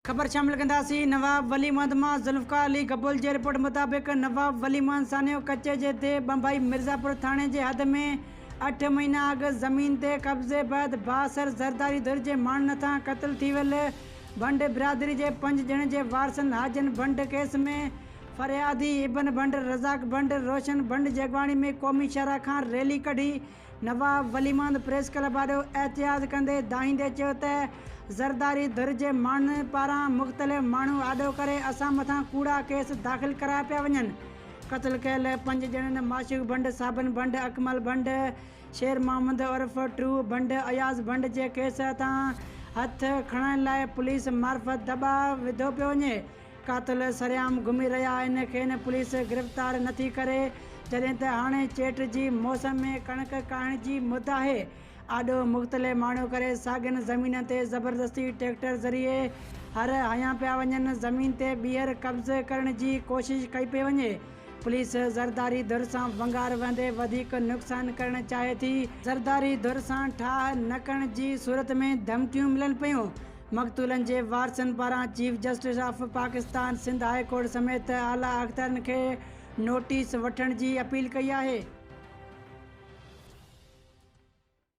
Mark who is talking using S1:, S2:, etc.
S1: خبر شامل ڪنداسين نواب ولي محمد مان ذوالفقار علي گبول جي رپورٽ مطابق نواب ولي محمد سانحو ڪچي جي ديھ ٻنڀائي مرزاپور ٿاڻي جي حد ۾ اٺ مھينا اڳ زمين تي قبضي بعد بااثر زرداري ڌر جي ماڻھن ھٿان قتل ٿي ويل ڀنڊ برادري جي پنج ڄڻن جي وارثن حاجن ڀنڊ ڪيس ۾ فريادي ابن ڀنڊ، رزاق ڀنڊ، روشن ڀنڊ جي اڳواڻي ۾ قومي شاھراھ کان ريلي ڪڍي نواب ولي محمد پريس ڪلب آڏو احتجاج ڪندي دانهيندي چيو ته زرداري ڌر جي ماڻهن پاران مختلف ماڻهو آڏو ڪري اسان مٿان ڪوڙا ڪيس داخل ڪرايا پيا وڃن، قتل ڪيل پنج ڄڻن معشوق ڀنڊ، صابن ڀنڊ، اڪمل ڀنڊ، شير محمد عرف ٽرو ڀنڊ، اياز ڀنڊ جي ڪيس هٿان هٿ کڻائڻ لاء پوليس معرفت دٻاء وڌو پيو وڃي. قاتل سرعام گهمي رهيا آهن کين پوليس گرفتار نٿي ڪري جڏهن ته هاڻي چيٽ جي موسم ۾ ڪڻڪ ڪاهڻ جي مد آهي آڏو مختلي ماڻهو ڪري ساڳين زمينن تي زبردستي ٽريڪٽر ذريعي هر هنيا پيا وڃن زمين تي ٻيهر قبض ڪرڻ جي ڪوشش ڪئي پئي وڃي پوليس زرداري ڌر سان ونگار وهندي وڌيڪ نقصان ڪرڻ چاهي ٿي زرداري ڌر سان ٺاهه نه ڪرڻ جي صورت ۾ ڌمڪيون ملن پيون. مقتولن جي وارثن پاران chief justice of Pakistan, Sindh high court سميت اعليٰ اختارين کي نوٽيس وٺڻ جي اپيل ڪئي آهي.